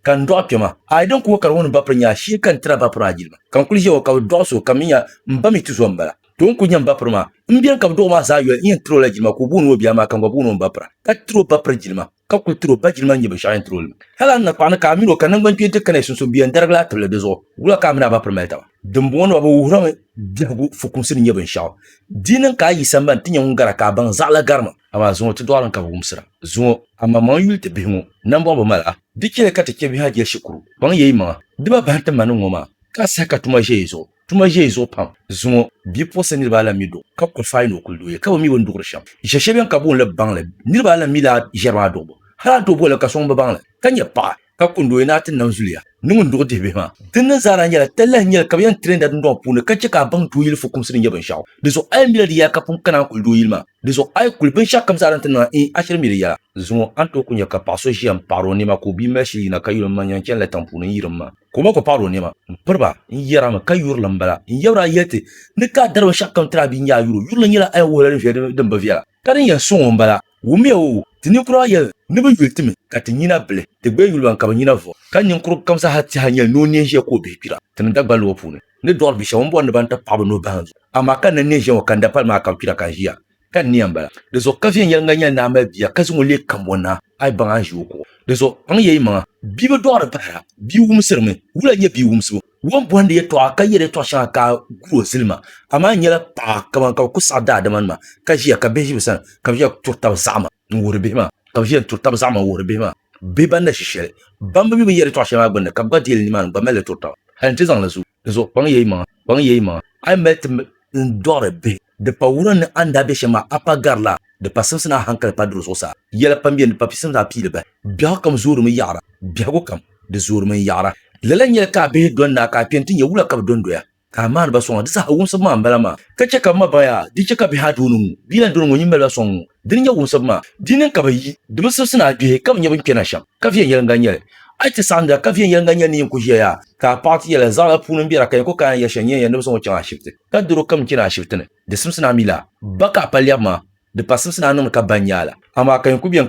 Ka n dɔɣi kpɛma, a yi din ku o kari o ni ba piri nya shee ka n tiri a ba piri a jilima. Ka n kuli ʒe o ka bi dɔɣi so, ka mi nya m ba mi ti zo m-bala. Too n kuli nya m ba piri maa. M beni ka bi dɔɣi o maa zaa yoli n yɛn tiri o la jilima ka o booni o bia maa ka n gba booni o m ba pira, ka tiri o ba piri jilima, ka kuli tiri o ba jilima n-nyɛ binshɛɣu yɛn tiri o li maa. Hal a ni na kpaɣi ni ka a min o ka naŋgban kpeeni ti kana yi sunsuuni bɛ yɛn darigi la a tibili di zuɣu wula ka a mini a ba piri mali taba. Dimbɔŋɔ ni ba bi wuhirimi biɛhigu fukumsi ni nyɛ binshɛɣu di niŋ ka a yi sambani ti nya ŋun gara ka a baŋ zaɣila garima. Amaa zuŋɔ ti dɔɣilim ka bɛ wumsira. Zuŋɔ, amaŋmaŋ yuli ti bihi ŋɔ nambɔɣu bi mali a. Di chɛliya ka ti chɛ bihi a jɛli shikuru. Kpaŋya yi maŋa, di ba bahim ti ma ni ŋɔ maa, ka a saha ka tuma ʒe yi zuɣu. Tuma ʒe yi zuɣu pam. Zuŋɔ, bipuɣinsi niriba alan mi duɣu, ka kuli faai ni o kuli duɣi ya, ka bɛ mi bini duɣiri shɛm. Ʒe shɛli beni ka booni li baŋli. Niriba alan mi daa ʒiɛri maa duɣibu. Hal a duɣibu la ka sɔŋ bi baŋ li, ka nyɛ paɣa. ka kundi o yina ti nam zuliya ni ŋun duɣi dihi bihi maa. Din niŋ zaa daa nyɛla talahi n-nyɛli ka bɛ yɛn tirinda dundɔŋ puuni ka chɛ ka a baŋ dooyili fukumsi ni nyɛ binshɛɣu. Di zuɣu a yi mila di yɛla ka pun kana n-kuli dooyili maa, di zuɣu a yi kuli binshɛɣu kam zaa din ti niŋ a in, a shiri mi di yɛla. Zuŋɔ a ni tooi kuli nya ka paɣ so ʒiya m-paɣiri o nɛma ka o bia mali shili yina ka yuli m ma n-yɛn chani la tiŋ puuni n-yiri m ma ka o ma gba paɣiri o nɛma m-piri ba n-yɛri a mi ka yuri li m-bala n-yabir a yɛli ti ni ka a dari binshɛɣu kam tiri a bia n-nyɛ a yuri o yuri li nyɛla a yɛn wuhi la din viɛli din bi viɛla ka din yɛn suŋ o m-bala. Wumiya o, ti ninkura yɛli ni bɛ yuli ti mi, ka ti nyina bili, ti gbaya yuli ban ka bɛ nyina vuɣi. Ka ninkurugu kam zaa ha ti ha nyɛli ni o neen ʒiya ka o bihi kpira ti ni Dagbanli ŋɔ puuni, ni dɔɣiri bi shɛba m-bɔri ni ban ti paɣi bɛ nuhi bahim zuɣu. Amaa ka n na neen ʒiya ŋɔ ka n da pali maa ka n kpira ka n ʒiya, ka n niya m-bala. Di zuɣu ka viɛnyɛliŋga nyɛli ni a mali bia ka zaŋ o leei kambɔn ni a, a yi baŋ a ni ʒi o kuɣu. Di zuɣu kpaŋ ya yi maŋa. Bia bi dɔɣiri bahira, bia wumsirimi. Wula n-nyɛ bia wumsibu? Ŋun bɔhindi yɛtɔɣa ka yɛri yɛtɔɣ shɛŋa ka a gu o zilima, amaa n nyɛla paɣa kaman ka bɛ ku saɣi daadimanima, ka ʒiya ka bihi ʒi bɛ sani, ka bɛ ʒiya turi taba zaɣima n-wuhiri bihi maa, ka bɛ ʒiya n-turi taba zaɣima n-wuhiri bihi maa, bihi ban na ʒi shɛli, ban bi mi bɛ ni yɛri yɛtɔɣ shɛli maa gbinni, ka bɛ gba deeli nimaani n-gba mali li turi taba. Hal nti zaŋ li zuɣu, dinzuɣu kpaŋ ya yi maŋa, kpaŋ ya yi maŋa, a yi mali ti n dɔɣiri bihi. Di pa wuhiri ni a ni daa be shɛm maa, a pa gari la, di pa simsi ni a hankali pa diri zuɣusaa. Yɛla pam beni, di pa pisimsi a pii li bahi. Biɛhigu kam zoorimi yaɣira, biɛhigu kam, di zoorimi n-yaɣira. Lala n-nyɛli ka a bihi doli naa ka a kpe nti nya wula ka bɛ dondoya, ka a maani ba sɔŋ a. Di saha wumsibu maa m-bala maa. Ka chɛ ka bɛ ma baŋ yaa, di chɛ ka bihi a dooni ŋu, bia lan dooni ŋɔ nyin mali ba sɔŋ ŋu. Dini nyɛ wumsibu maa, di nini ka bɛ yi di bi sibisi ni a gbihi ka bɛ nyɛ bɛn kpɛna shɛm, ka viɛnyɛliŋga nyɛ li. A yi ti saɣindila ka viɛnyɛliŋga nyɛ ni yin ku ʒiya yaa, ka a paɣiti yɛla zaɣila puuni m-be ra ka nya ko ka a ni yɛli shɛli nyɛ ya ni bɛ zaŋ o chaŋ ashibiti, ka doro kam chani ashibiti ni, di simsi ni a mi laa ba ka a pa lɛbu maa, di pa simsi ni a niŋdi ka ba n-nya a la, amaa ka yin ku be n